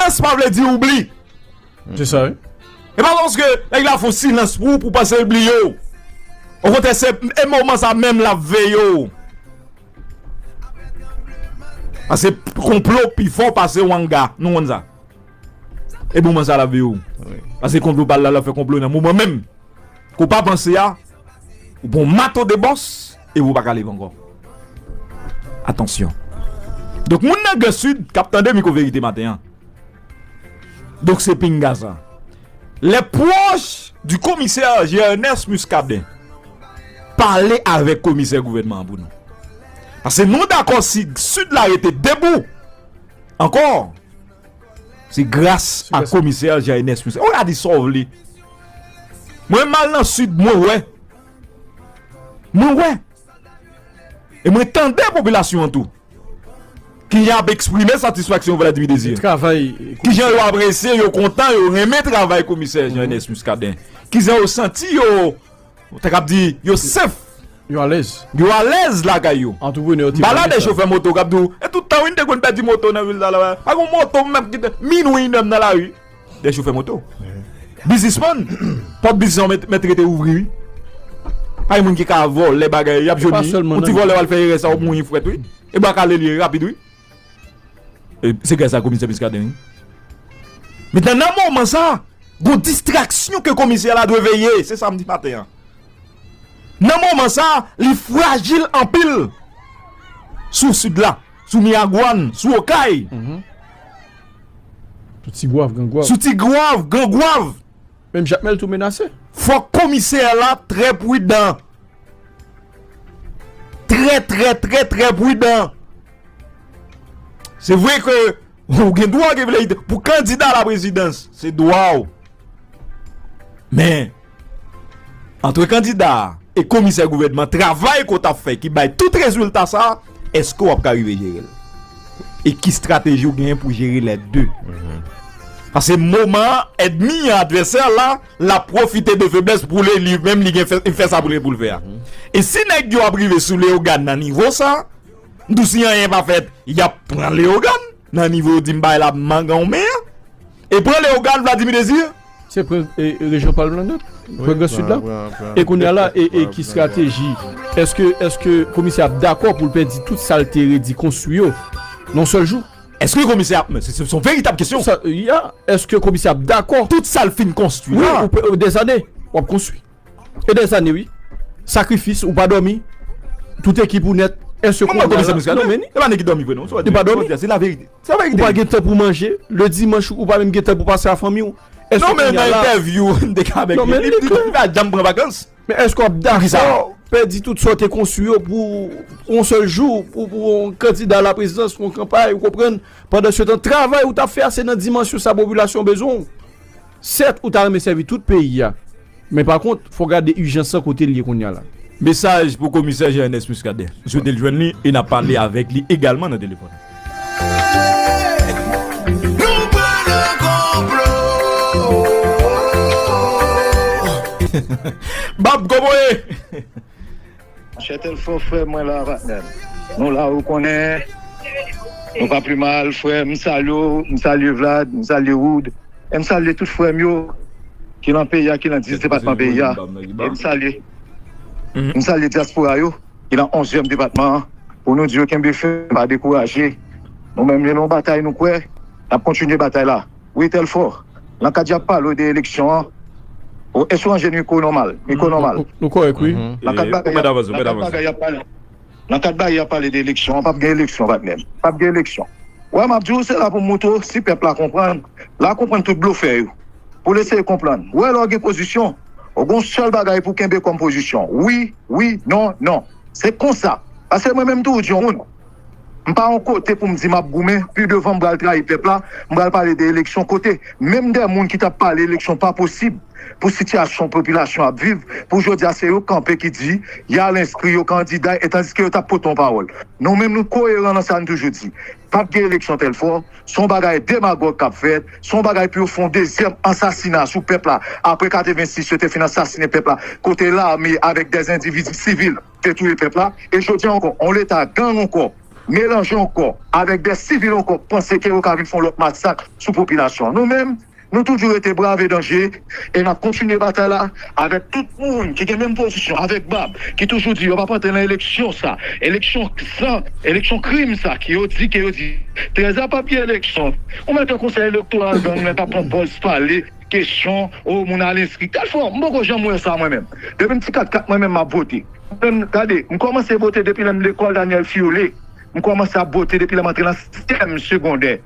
Silans pa vle di oubli. Se sa wi. E pa paske nèg la fon silans pou ou pou panse l bliye w. Okontrè se e moman sa menm lap veye w. Pase konplo pi fò pase wanga. Nou konn sa. E moman sa lap veye w. Pase konplo pa la lap fè konplo nan moman menm. Kou pa panse a. Ou pon mato de bòs. Ewo pa ka leve ankò. Atansyon. Donk moun nan gran sid kap tande miko verite maten an. Donk se pinga sa. Les proches du commissaire Gernès Muscadin pale avèk komisè gouvènman an pou nou. Pase nou dakò si sid la rete debou ankò se gras a komisè Gernès Muscadin. Ou ka di sa w vle. Mwen mal nan sid mwen wè Mwen wè, e mwen tande popilasyon an tou, ki jan y ap eksprime satisfaksyon Vladimir Désir, ki jan yo apresye, yo kontan, yo renmen travay komisè Jean Ernest Muscadin, ki jan yo santi yo, mwen ta kab di, yo sèf, yo alèz lakay yo. M pale a de chofè moto k ap di w, e tout tan wi n te konn pèdi moto nan vil sa la, pa gen yon moto m menm ki te, minwi, m nan lari. Dè chofè moto Bizisman Pòt bizisman yo mèt rete ouvri wi Pa gen moun ki ka vòlè bagay Yap jwenn li Yon ti vòlè wal fè erè sa wap mouri frèt wi E bwa kale li ye rapid wi E se grasa komisè Muscadin wi Men nan nan moman sa Gon distraksyon ke komisè la dwe veye Se sa m di maten an Nan moman sa Li frajil anpil Sou sid la Sou Miragwàn Sou Okay Sou ti gwav gan gwav. Sou ti gwav gan gwav. Menm jakmèl tou menase. Fòk komisè la trè prudan. Trè trè trè trè prudan. Se vre ke ou gen dwa gen vle pou kandida la prezidans. Se dwa ou. Men, antre kandida a e komisè gouvènman, travay ke w t ap fè ki bay tout rezilta sa a, èske w ap ka rive jere l? E ki estrateji ou genyen pou jere lè de? Pase moman an, èdmi an, advèsè an la, l ap pwofite de feblès pou li menm li gen pou l fè sa pou l gen pou l fè a. E si nèg yo ap rive sou Leyogàn nan nivo sa a, tou si anyen pa fèt, y ap pran Leyogàn nan nivo di m bay la mangan w men an. E pran Leogane Vladimir Désir? Se pran rejyon pa l lan nèt. Pran gran sid la. E kounye a la e ki strateji? Eske eske komisè ap dakò pou l pèdi tout sa l te redi konstwi yo nan yon sèl jou? Eske komisè ap men se son veritab kesyon. Sa ya eske komisè ap dakò? Tout sa l fin konstwi la. Wi ou pe ou dezane w ap konstwi. E dezane wi. Sakrifis ou pa dòmi. Tout ekip ou nèt. Eske komisè Muscadin? Epa nèg ki dòmi vre non. Li pa dòmi. Se laverite. Ou pa gen tan pou manje, le dimanch ou pa menm gen tan pou pase a fanmi ou. Non men nan entèvyou ou te ka avèk li, li di li pa janm pran vakans. Men èske wap dakò pèdi tout sa ou te konstwi yo pou yon sèl jou, pou yon kandida la prezidans, pou yon kanpay ou konprann, pandan se tan travay ou tap fè a se nan dimansyon sa popilasyon bezwen ou. Sèt ou ta renmen sèvi tout peyi a, men pa kont fò gade ijans lan kote l ye kounye a la. Mesaj pou komisè Jean Ernest Muscadin. M swete l jwenn li e n ap pale avèk li egalman nan telefòn. Bab kokoye! Monchè telfò frèm mwen la patnèm nou la ou konnen nou pa pi mal frèm m salye w m salye vlad m salye wood e m salye tout frèm yo ki lan peyi a ki lan 10 depatman peyi a e m salye m salye dyaspora yo ki lan onzyèm depatman an pou nou di yo kenbe fèm pa dekouraje nou menm yo nou batay nou kwè nap kontinye batay la. Wi telfò nan kad yap palew de eleksyon an o èske w anje n iko nòmal iko nòmal Nou kòrèk wi. nan kad bagay yap nan kad bagay yap pale nan kad bagay yap pale de eleksyon an pap gen eleksyon patnè m pap gen eleksyon wè map diw se la pou m moutre w si pèp la konprann la konprann tout blofè yo pou l eseye konprann wè lè w gen pozisyon w gon sèl bagay pou w kenbe kòm pozisyon wi wi non non se konsa paske mwen menm tou w di yon moun M pa yon kote pou m di map goumen, pi devan m pral trayi pèp la, m pral pale de eleksyon kote menm de moun ki tap pale eleksyon pa posib pou sitiyasyon popilasyon ap viv pou jodi a se yo k kanpe ki di yal enskri yo kandida e tandiske yo tap pote yon pawòl nou menm nou koyeran nan sa n toujou di pap gen eleksyon tèlfò se yon bagay demagòg kap fèt se yon bagay pou yo fè yon dezyèm ansasina sou pèp la apre 86 yo te fin ansasine pèp la kote lame avèk dèzendividi sivil te touye pèp la e jodi an ankò yon leta gang ankò melanje ankò avèk dè sivil ankò panse ke yo ka vin fè yon lòt masak sou popilasyon an. Nou menm nou toujou rete brave danje e nap kontinye batay la avèk tout moun ki gen menm pozisyon avèk bab ki toujou di yo pap antre nan eleksyon sa eleksyon san eleksyon krim sa ki yo di ke yo di 13 a pap gen eleksyon ou mèt wè konsèy elektoral gang nan kap pran pòz pale Kesyon oh moun al enskri tel fwa m poko janm wè sa mwen menm depi m ti kat kat mwen menm map vote mwen menm gade m kòmanse vote depi lèm lekòl Daniel Fiolet m kòmanse ap vote depi lèm antre nan 6 èm segondè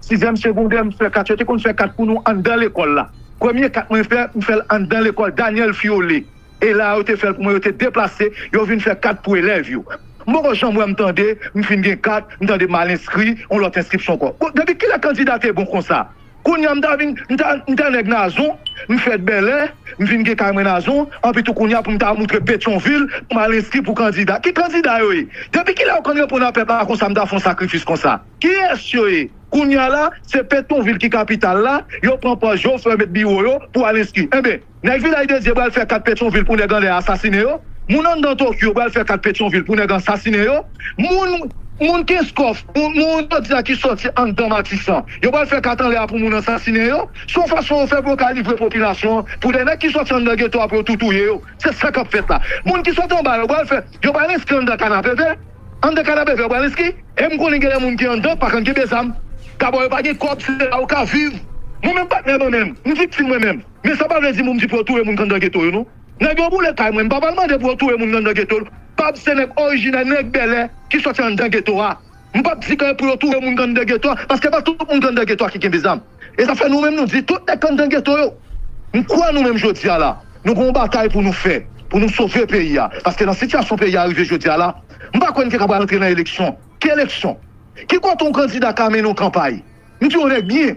6 èm segondè m fè kat yo te konn fè kat pou nou anndan lekòl la premye kat mwen fè m fèl anndan lekòl Daniel Fiolet e la a yo te fèl pou mwen yo te deplase yo vin fè kat pou elèv yo m poko janm wè m tande m fin gen kat m tande m al enskri yon lòt enskripsyon ankò bon depi kilè kandida te bon konsa Kounya m ta vin m ta m ta nèg nazon, m fèt bèlè, m vin gen kay mwen nazon, anpi tou kounya pou m ta moutre petyonvil pou m al enskri pou kandida, ki kandida yo ye? Depi kilè yo konn reponn a pèp la konsa m ta fè yon sakrifis konsa? Kiyès yo ye? Kounya la se petyonvil ki kapital la, yo pran pòz yo, fè yo met biwo yo pou al enskri. Enben. Nèg Vilaj de Dye pral fè kat Petyonvil pou nèg anlè asasinen yo. Moun anndan Tokyo pral fè kat Petyonvil pou nèg ansasinen yo. Moun moun Kenskòf, moun moun jodi a ki sòti anndan Matisan, yo pral fè kat anlè a pou moun ansasinen yo. Se yon fason yo fè pou yo ka livre popilasyon an pou de nèg ki sòti anndan geto a pou yo tou touye yo. Se sa k ap fèt la. Moun ki sòti anba yo pral fè, yo pral enskri anndan Kanapevè. Anndan Kanapevè yo pral enskri. E m konnen gen lè moun ki anndan pa konn kenbe zam. Dabò yo pa gen kòb se la yo ka viv. Mwen menm patnè mwen menm, m viktim mwen menm. Men sa pa vle di moum di pou yo touye moun kandan geto yo non. Nèg yo boule kay mwen, m pa pral mande pou yo touye moun kandan geto l, pab se nèg orijinè, nèg Bèlè ki sòti anndan geto a. M pap di kay pou yo touye moun kandan geto a, paske pa tout moun kandan geto a ki genbe zam. E sa fè nou menm nou di tout nèg kandan geto yo, m kwè nou menm jodi a la, nou gon batay pou nou fè, pou nou sove peyi a, paske nan sitiyasyon peyi a rive jodi a la, m pa kwè n te ka pral antre nan eleksyon. Ki eleksyon? Ki kote yon kandida ka mennen yon kanpay? M di yon nèg byen.